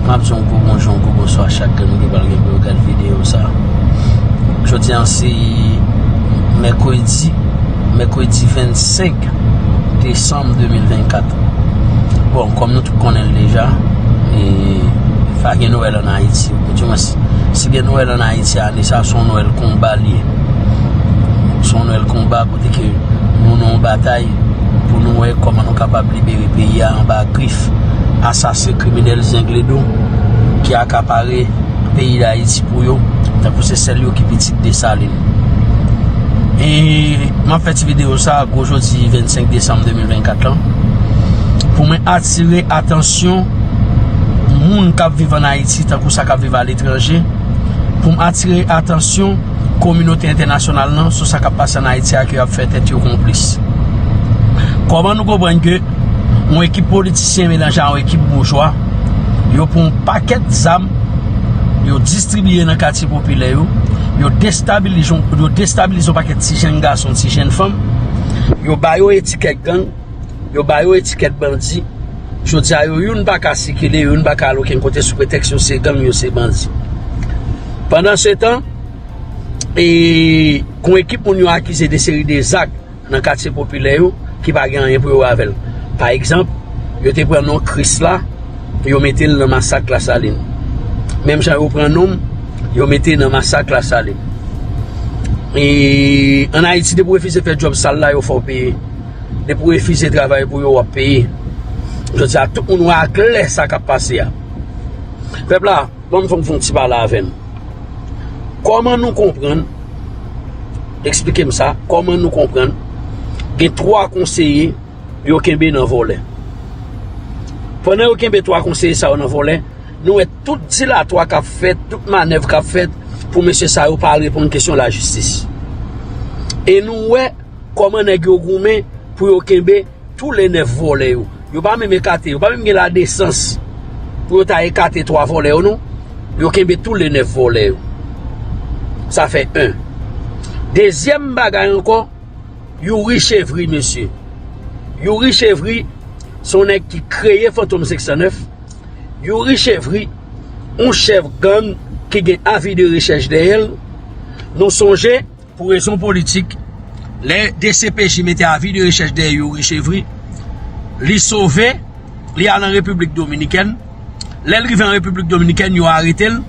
Map di yon gwo bonjou, yon gwo bonswa chak grenn moun ki pral gen pou yo gad videyo sa. Jodi an se mèkredi, mèkredi 25 desanm 2024. Bon, kòm nou tout konnen l deja, e pa gen Nwèl an Ayiti. Ou di mwen si, si gen Nwèl an Ayiti ane sa, son Nwèl konba li ye. Son Nwèl konba kote ke nou nan yon batay, pou nou wè kòman nou kapab libere peyi ya anba grif asasen kriminèl zengledo ki akapare peyi dayiti pou yo tankou se sèl yo ki pitit desalin e map fè ti video sa gwo jodi 25 desanm 2024 lan pou mwen atire atansyon moun kap viv an ayiti tankou sa kap viv aletranje pou m atire atansyon kominote entènasyonal nan sou sa k ap pase an Ayiti ak yo ap fè tèt yo konplis. Kòman nou konprann ke yon ekip politisyen melanje a yon ekip boujwa, yo pran yon pakèt zam, yo distribiye nan katye popilè yo, yo destabilize yon pakèt ti jenn gason, ti jenn fanm, yo ba yo etikèt gang, Yo ba yo etikèt bandi. Jodi a yo youn pa ka sikile, youn pa ka al okenn kote sou pretèks yo se gang, yo se bandi. Pandan se tan, e gon ekip moun yo akize de seri de zak nan katye popilè yo ki pa gen anyen pou yo wè avè l. Pa egzanp, yo te pran non Krisla, yo mete l nan masak Lasalin. Menm jan yo pran non m, yo mete nan masak Lasalin. E an Ayiti depi w refize fè djòb sal la yo fè w peye. Depi w refize travay pou yo w ap peye. Jodi a tout moun wè a klè sa k ap pase a. Pèp la, banm fè m fon ti pale avè m. Kòman nou konprann, eksplike m sa, kòman nou konprann gen 3 konseye yo kenbe nan vòlè. Pandan yo kenbe 3 konseye sa yo nan vòlè, nou wè tout dilatwa k ap fèt, tout manèv k ap fèt pou mesye sa yo pa reponn kesyon lajistis. E nou wè. Koman neg yo goumen pou yo kenbe tou le 9 vole yo. Yo pa menm ekate, yo pa menm gen la desans pou yo ta ekate 3 vole yo non. Yo kenbe tou le 9 vole yo. Sa fe 1. Dezyem bagay anko, Youri Chevry mesye. Youri Chevry son neg ki kreye Fantom 509. Youri Chevry, yon chef gang ki gen avi de rechech deyel. Nou sonje. Pou rezon politik, lè dcpj mete avi de rechèch dèyè Youri Chevry, li sove, li al an Repiblik Dominikèn. Lè l rive an Repiblik Dominikèn, yo arete l.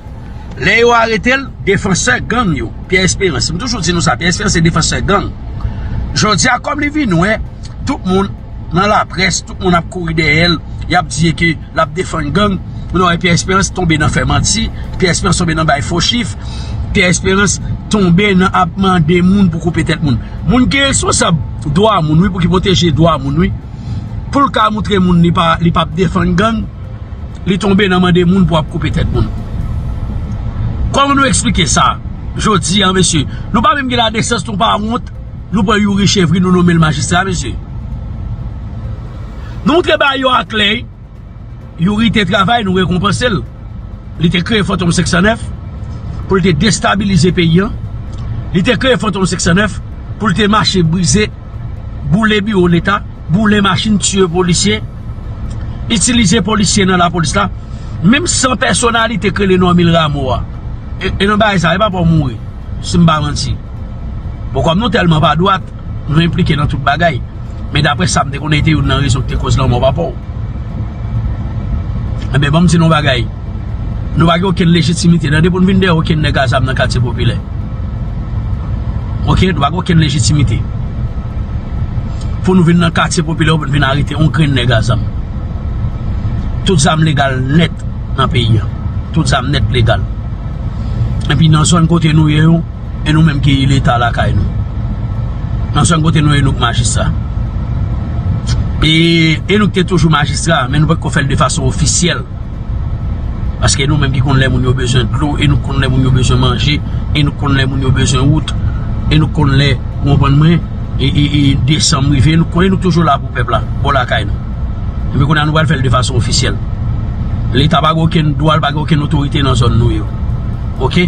Lè yo arete l, defansè gang yo, Pierre Espérance, m toujou di nou sa, Pierre Espérance se defansè gang. Jodi a, kòm li vin wè, tout moun. nan laprès tout moun ap kouri dèyè l y ap di ke l ap defann gang ou nan wè Pierre Espérance tonbe nan fè manti Pierre Espérance tonbe nan bay fo chif Pierre Espérance tonbe nan ap mande moun pou koupe tèt moun moun ki responsab dwa moun wi pou ki pwoteje dwa moun wi pou l ka moutre moun li pa li pap defann gang li tonbe nan mande moun pou ap koupe tèt moun kòman nou eksplike sa jodi an mesye nou pa menm gen ladesans nou pa wont. Nou pran youri chevry nou nomel majistra mesye Nou moutre ba yo aklè Youri te travay nou rekonpanse l Li te kreye fantom 509 Pou l te destabilize peyi an Li te kreye fantom 509 Pou l te mache brize Boule biwo leta Boule machin tiye polisye Itilize polisye nan la polis la Menm san pèsonalite krele normil ramo a E nan bay sa e pa pou mouri Si m pa manti Bon kòm nou tèlman pa dwat, nou enplike nan tout bagay. Men dapre sa m te konnen e te youn nan rezon ki te koz lanmò papa w. Enben banm di nou yon bagay, nou pa gen okenn lejitimite nan depi nou vin dèyè okenn nèg a zam nan katye popilè. Ok, nou pa gen okenn lejitimite pou nou vin nan katye popilè pou nou vin arete yon grenn nèg a zam. Tout zam legal nèt nan peyi an. Tout zam nèt legal. Enpi nan zòn kote nou ye yo. E nou menm ki leta lakay nou? Nan sèm kote nou e nou k majistra. E e nou k te toujou majistra men nou pa t ko fèl de fason ofisyèl. Paske e nou menm ki konn lè moun yo bezwen dlo, e nou konn lè moun yo bezwen manje, e nou konn lè moun yo bezwen wout, e nou konn lè ou anprann mwen, e e e desanm rive, nou konn e nou toujou la pou pèp la, bò lakay nou. E men kounya nou pral fèl de fason ofisyèl. Leta pa gen okenn dwa, l pa gen okenn otorite nan zòn nou yo. Ok?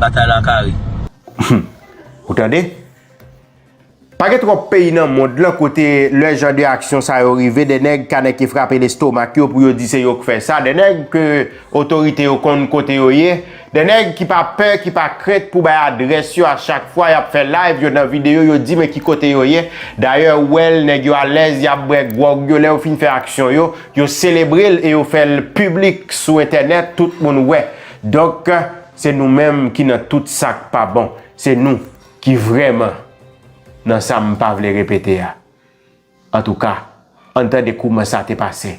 Batay la kare. Humm ou tande. Pa gen twòp peyi nan mond lan kote lè jan de aksyon sa yo rive de nèg ka nèke frape lestomak yo pou yo di se yo k fè sa, de nèg ke otorite yo konn kote yo ye, de nèg ki pa pè, ki pa krent pou bay adrès yo a chak fwa yap fè live yo nan videyo yo di men ki kote yo ye, dayè ou wè l nèg yo alèz yap bwè gwòg yo lè yo fin fè aksyon yo, yo selebre l e yo fè l piblik sou entènèt tout moun wè. Donk se nou menm ki nan tout sak pa bon, se nou ki vrèman nan sa m pa vle repete a. Antouka, ann tande kouman sa te pase,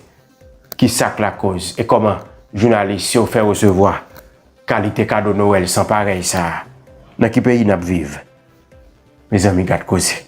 ki sak lakoz e kòman jounalis yo fè resevwa kalite kado Nowèl san parèy sa a, nan ki peyi n ap viv, Mezanmi gad koze.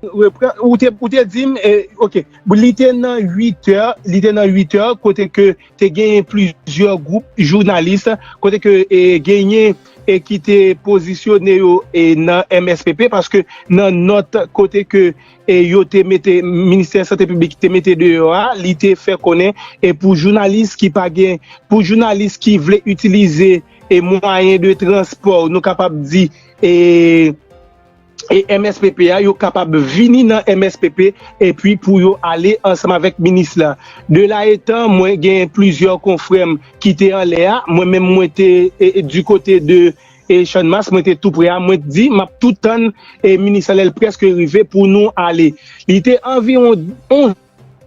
Ou te dim ok li te nan 8 è li te nan 8 è kote ke te genyen plizyè gwoup jounalis kote ke genyen e ki te pozisyone yo e nan MSPP paske nan nòt kote ke e yo te mete ministè sante piblik te mete de yo a li te fè konen e pou jounalis ki pa gen pou jounalis ki vle itilize e mwayen de transpò nou kapab di e mspp a yo kapab vini nan mspp epi pou yo ale ansanm avèk minis la de la etan mwen gen plizyè konfrèm ki te anlè a mwen menm mwen te di kote de e channmas mwen te tou pre a mwen di map tou tann e minis la lèl preske rive pou nou ale li te anviron 11.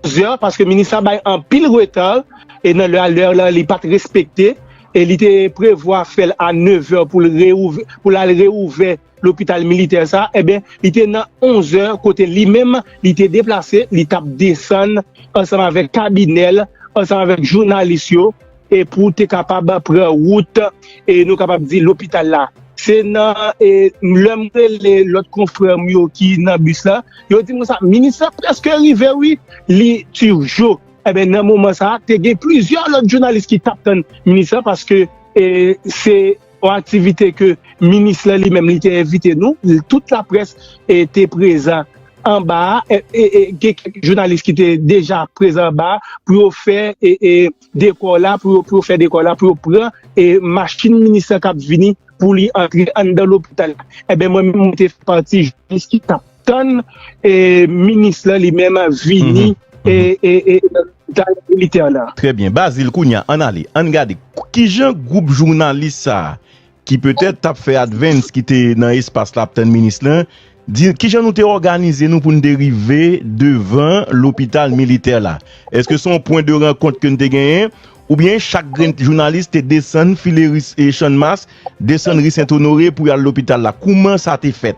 Zè paske minis la bay anpil reta e nan lè a lè la li pat respekte e li te prevwa fèl a 9 zè pou l reouvè pou l al reouvè lopital militè sa eben li te nan 11 zè kote li menm li te deplase li tap desann ansanm avèk kabinè l ansanm avèk jounalis yo E pou w te kapab pran wout e nou kapab di lopital la. Se nan e lè m rele lòt konfrè m yo ki nan bis la, yo di m konsa, minis la prèske rive wi, li Turgeau. Enben nan moman sa a, te gen plizyè lòt jounalis ki t ap tann minis la paske e se yon aktivite ke minis la li menm li te envite nou, tout laprès e te prezan anba a, e gen kèk jounalis ki te deja prezan anba a pou yo fè e. Dekò la pou yo pou yo fè dekò la pou yo pran e machin minis lan kap vini pou li antre anndan lopital la enben mwen menm mwen te fè pati jounalis ki tap tann e minis lan li menm vini e e e nan lopital militè la. Trè byen Bazil kounya ann ale ann gade kijan gwoup jounalis sa ki petèt t ap fè advance ki te nan espas la ap tann minis lan, di ki jan nou te òganize nou pou nou te rive devan lopital militè la. Eske se yon pwen de rankont ke nou te genyen oubyen chak grenn jounalis te desann file ri Channmas, desann ri Sentonore pou y al lopital la? Kouman sa te fèt?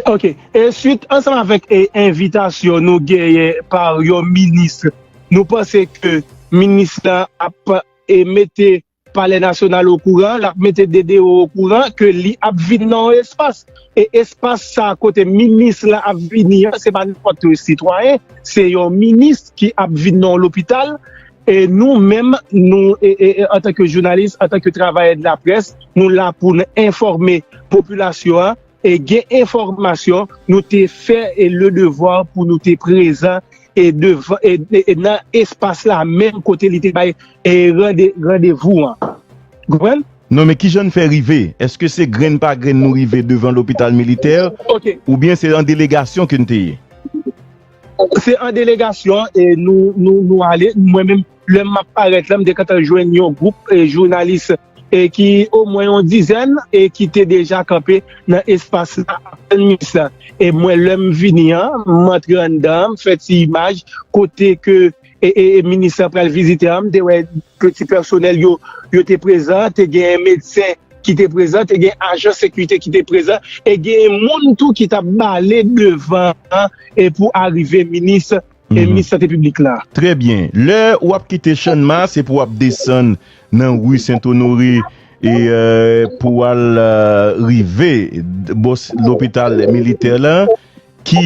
Ok. E swit ansanm avèk envitasyon nou genyen pa yon minis, nou panse ke minis lan ap mete Palè Nasyonal okouran, l ap mete DDO okouran ke li ap vin nan yon espas. E espas sa a kote minis lan ap vini an, se pa nenpòt yon sitwayen, se yon minis ki ap vin nan yon lopital. E nou menm, nou antanke jounalis, antanke travayè de la presse, nou la pou nou enfòme popilasyon an. E gen enfòmasyon nou te fè e le devwa pou nou te prezan e devan e nan espas la menm kote li te bay e rande randevou an. Konprann? Non men kijan n fè rive? Eske se grenn pa grenn nou rive devan lopital militè Ok. oubyen se an delegasyon ke n te ye? Se an delegasyon e nou nou nou ale mwen menm. Lè m ap parèt la, m te gentan jwenn yon gwoup jounalis ki omwen yon dizèn ki te deja kanpe nan espas la ap tann minis la. E mwen lè m vini an, m antre anndan an, m fè ti imaj kote ke minis la pral vizite an, m te wè ti pèsonèl yo, yo te prezan, te gen medsen ki te prezan, te gen ajan sekirite ki te prezan e gen moun tou ki t ap bale devan an pou arive minis. e minis sante piblik la. Trè byen. Lè ou ap kite Channma, se pou w ap desann nan ri Sentonore e pou w al rive bò lopital militè la ki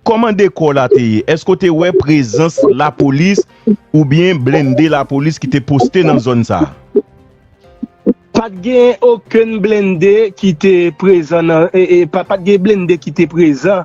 Kòman dekò la te ye? Èske ou te wè prezans lapolis oubyen blende lapolis ki te poste nan zòn sa a? Pa t gen okenn blende ki te prezan nan, pa t gen blende ki te prezan.